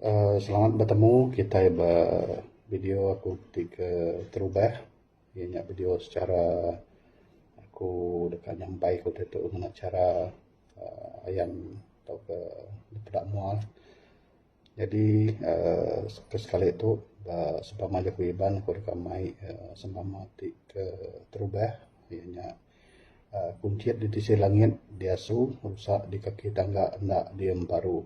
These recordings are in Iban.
uhh selamat betemu kitai ba video aku ti ke terubah inya nya video secara aku deka nyampai ku ditu ngena chara uhh ayan tauka peda mua jadi uhh ke sekali tu ba sempama jaku Iban aku deka mai uhh sempama ti ke terubah inya nya. Kunchit di tisi langit diasu rusa di kaki tangga enda diemparu.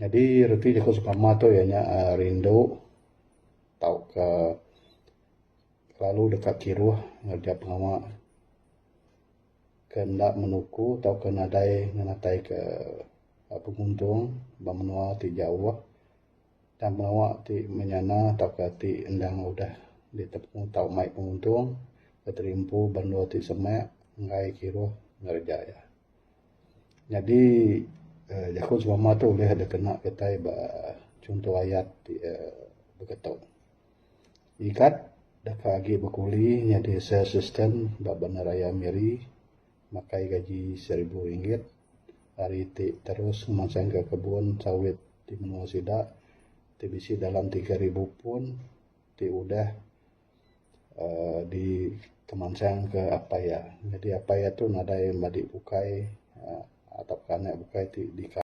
Nyadi reti jaku sukama tu iya nya uhh rindu tauka lalu deka kiruh ngereja pengawa ke enda menuku tauka nadai ngenataika penguntung ba menua ti jauh. Tang pengawa ti menyana tauka ti endang udah ditemu tau mai penguntung bateri empu bandur ti semak enggai kiruh ngereja iya. Nyadi uhh jaku selama tu ulih dep kena kitai ba chunto ayat ti uhh beketo. Ngigat deka agi bekuli nyadi sales assistant ba bandar raya Miri makai gaji seribu ringgit. Ari ti terus ngemansangka kebun sawit ti menua sida ti bisi dalam tiga ribu pun ti udah uhh dikemansangka apai iya. Jadi apai iya tu nadai madi bukai uhh tauka anak bukai ti dikah.